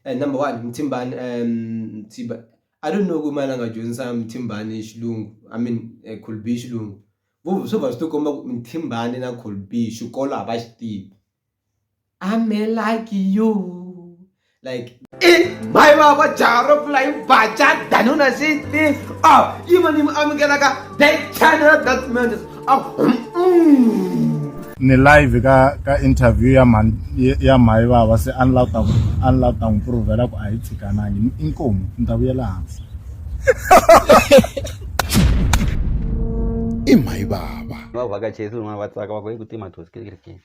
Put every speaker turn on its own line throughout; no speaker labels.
eh, number one mthimbani um mthiba i don't know ku mani a nga dyondzisa mthimbani xilungu i mean uh, eh, colby xilungu swo va swi to komba ku mthimbani na colby xikolo a va xi tivi ame like you like i my baba jaro fly bacha danuna siti oh even im amukelaka that channel that man
ni live ka ka interview ya mhani ya mhayi vava se a ni lava ta a ni lava ta n'wi provela ku a hi tshikanangi inkomu ni ta vuyela hansi
i mhayi vava va vhakachesi van'wana
va tsaka va ku hi ku tima thosi kirikirikini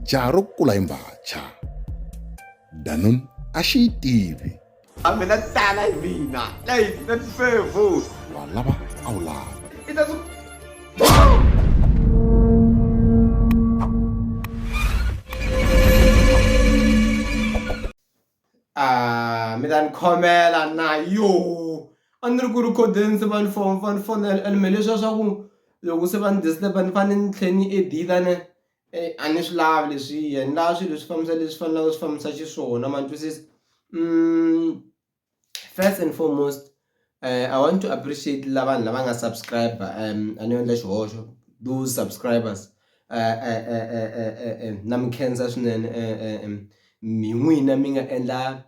jaha ro kula
hi mbhacha danun a xi yi tivi a mina
tala hi mina leyi na tifevu wa lava a
wu lava i ta
Ah, mi ta ni khomela na yo a ni ri ku ri codense va ni fon va ni fonela and me leswiya swa ku loko se va ni disturba ni fanele ni tlhe ni editane Eyi a ni swi lavi leswiya ni lava swilo leswi fambisa leswi faneleke swi fambisa xiswona ma twisisa first and foremost I want to appreciate la vanhu lava nga subscribe a ni yo endla xihoxo those subscribers na mi khensa swinene hi n'wina mi nga endla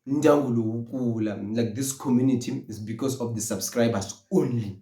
ndyangu lowu kula like this community is because of the subscribers only.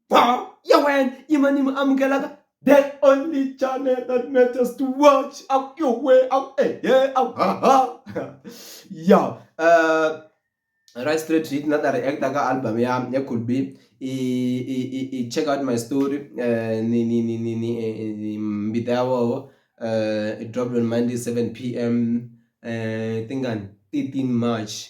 Power ya wena yi ma ni mi amukelaka the only channel that matters to watch a ku yo we a ku ehe a ku haha ya eh, right straight hit na ta reacta ka album ya ya could be i i i i check out my story eh, ni ni ni ni ni eh, eh, ni mbita ya woho eh, it dropped on monday 7 pm eh, tingani 13 march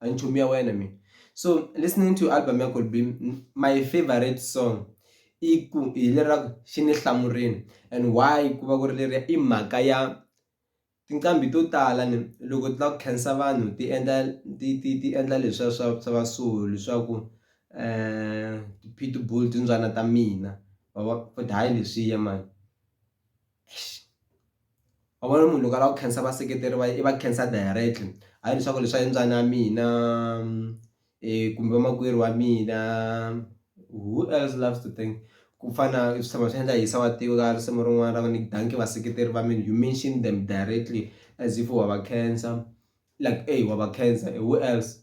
anchomia wena mina so listening to album ya Kolbe my favorite song i ku hi leraku xi ni hlamurini and why ku va ku ri leriya i mhaka ya tinqambi to tala ni loko ti lava ku khensa vanhu ti endla ti ti ti endla leswiya swa swa va so leswaku ti-pitbull timbyana ta mina ma vo futhi hayi leswiya mani. wa vona munhu loko a lava ku khensa vaseketeri va yena i va khensa directly hayi leswaku leswi swa yimbyana ya mina kumbe vamakwerhu wa mina who else loves to thank ku fana na swi tshama swi endla hisa wa tiva ka risimu rin'wana ra ku ni dankie vaseketeri va mina you mention them directly as if wa va khensa like ey wa va khensa who else .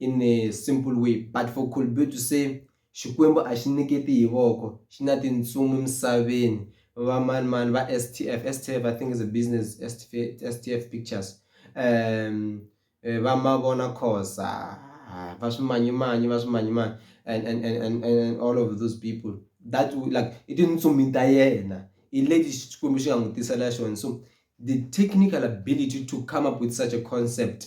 in a simple way but for Kolbe to say Xikwembu a xi nyiketi hi voko xi na tintsumi emisaveni va mani mani va STF STF I think is a business STF STF pictures um eh, va mavona khosa va swimanyimanyi va swimanyimanyi and and and and all of those people that like i tintsumi ta yena hi leti Xikwembu xi nga n'wi tisela xona so the technical ability to come up with such a concept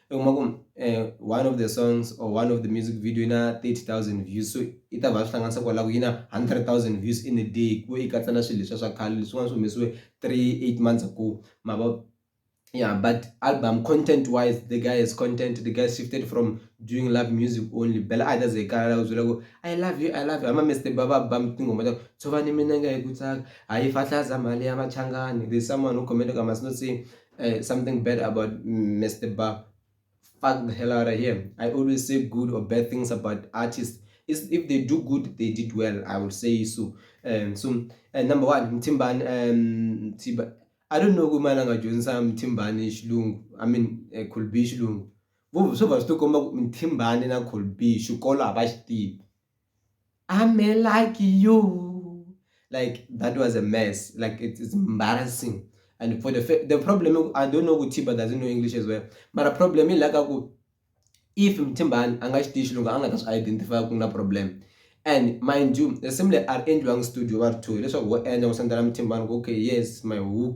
u kuma ku um one of the songs or one of the music video yi na thirty thousand views so yi ta va swi hlanganisa kwalaho yi na hundred thousand views in a day ku yi katsa na swilo leswiya swa khale leswin'wana swi humesiwe three eight months ago ma vo ya but album content wise the guy has content the guy shifted from doing love music only bela a hi ta ze hi kala la ku byela ku i love you i love you hama Mister Baba ba tinghoma ta tshovani minenge hi ku tsaka hayi fahlaza mali ya machangani there's someone who commented ka must not say uh, something bad about Mr. Ba. Fuck the hell out of him. I always say good or bad things about artists. It's, if they do good, they did well. I would say so. Um, so uh, number one, Timban, um, Timban. I don't know kumana ngajonisa Mthimbane isilungu. I mean, uh, could be isilungu. Vuvu swo va swi tikomba ku Mthimbane na could be xikolo a va xi tivi. I'm a like you. Like that was a mess. Like it is embarrassing. And for the the problem, I don't know Tiba doesn't know English as well. But a problem is like if Mtimban anga xitiyi xilungu a nga ta swi identify ku na problem and mind you similar are endliwanga studio va ri two leswaku ho endla ku sendela mutimbani ku okay yes my hook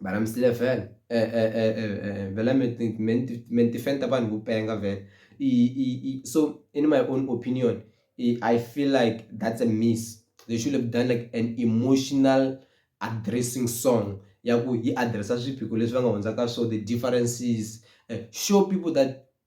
Mara mi sile vhele e e e e e vhele mi ti mi ti mi ti fenta vanhu ku penga vhele i i i so in my own opinion i I feel like that's a miss they should have done like an emotional addressing song ya ku yi address swiphiqo leswi va nga hundzaka swo the differences show people that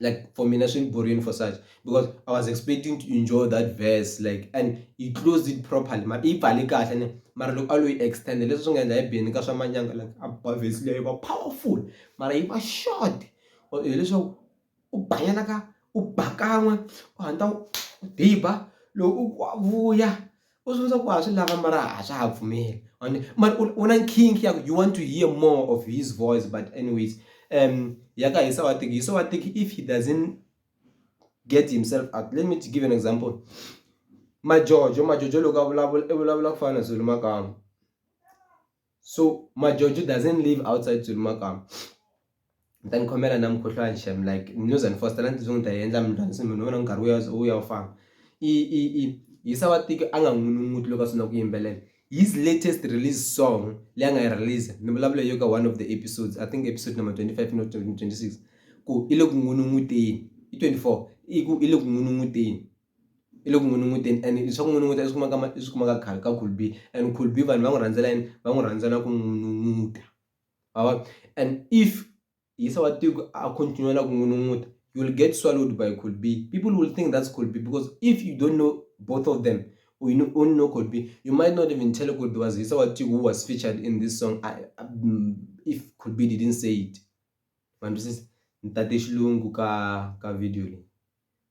like for mina swini boring for such because i was expecting to enjoy that verse like and he closed it properly ma i pfale kahle ne mara loko a lo yi extend leswi swi nga endla hi beni ka swa manyanga like a ba verse leyi va powerful mara yi va short hileswaku u banyana ka u ba kan'we u hatla u diba loko u vuya U swi vona ku ha swi lava mara a swa ha pfumeli and mara u na nkhinkhi ya ku you want to hear more of his voice but anyways um ya ka hisa wa tiki hisa wa tiki if he doesn't get himself up let me to give an example majojo majojo loko a vulavula i vulavula ku fana na Zulu makamu. so majojo doesn't live outside dzulumakama ni ta ni khomela na mukhuhlwani xem like news and foster na ni tizungu ta yi endla mntwana se munhu u vona nkarhi wu ya wu ya wu famba i i i yisa wa tiko a nga n'win'win'wuti loko a sungula ku yimbelela his latest release song leyi a nga yi release ni vulavula yo ka one of the episodes i think episode number 25 no 26 ku i le ku n'win'win'wuteni i 24 i ku i le ku n'win'win'wuteni i le ku n'wi nunguteni and swa ku n'wi nunguta i swi kumaka i swi kumaka khale ka cool be and cool be vanhu va n'wi rhandzela yini va n'wi rhandzela ku n'wi nunguta ma vo and if yisa wa tiko a continue na ku n'wi nunguta you will get swallowed by cool be people will think that's cool be because if you don't know both of them or you know, only know cool be you might not even tell cool be was yisa wa tiko who was featured in this song I, I, mm, if cool be didn't say it ma twisisa ni tate xilungu ka ka video leyi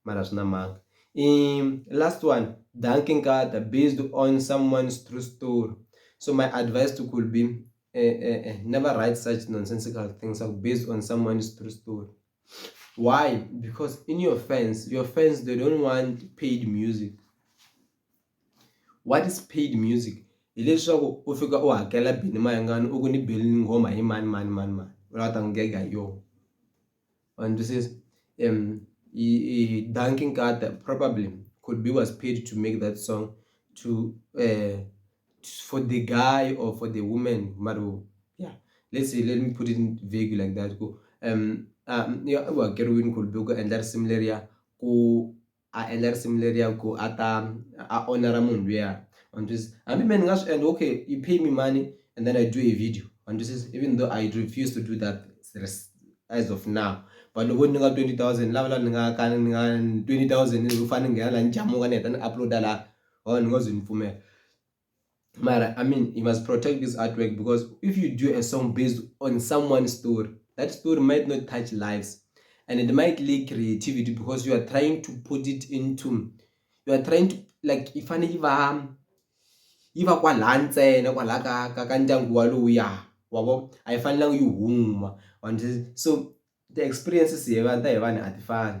mara swi na mhaka i last one danki nkata based on someone's true story so my advice to could be eh, eh, eh, never write such nonsensical things like based on someone's true story why because in your fans your fans they don't want paid music what is paid music hileswaku u fika u hakela bini mayangani u ku ni beli ni nghoma hi mani mani mani mani u lava ta n'wi gega hi yona And this is um he, Duncan Carter probably could be was paid to make that song to uh for the guy or for the woman maru yeah let's say let me put it in vague like that go um um yeah well Kerwin could be and that similar yeah ku a endla risimu leriya ku a ta a onera munhu luya wa ni twisisa hambi mehe ni nga swi endla okay you pay me money and then I do a video wa ni twisisa even though I refuse to do that as of now but loko ni nga twenty thousand ni lava la ni nga ka ni nga twenty thousand ni fane ni nghena la ni jamuka ni heta ni upload-a la wa vona ni ngo ze ni pfumela. Mara, I mean, you must protect this artwork because if you do a song based on someone's story, that story might not touch lives and it might lack creativity because you are trying to put it into, you are trying to, like, if I give a, if I kwa la ntsena kwa la ka ka ka ndyangu walowuya wabo a yi fanelanga yi huma so the experiences hi va ta hi vanhu a ti fani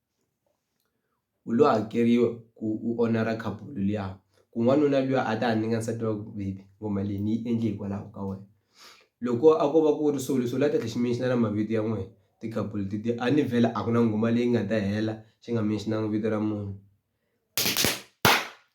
u lo hakeriwa ku u onara couple liya ku n'wanuna luya a ta ha nyika nsati wa baby ngoma leyi ni yi endle hikwalaho ka wena loko a ko va ku ri so leswi u la ta tlhela xi mention na mavito ya n'wina ti couple tetiya a ni vhela a ku na nghoma leyi nga ta hela xi nga mention-angi vito ra munhu.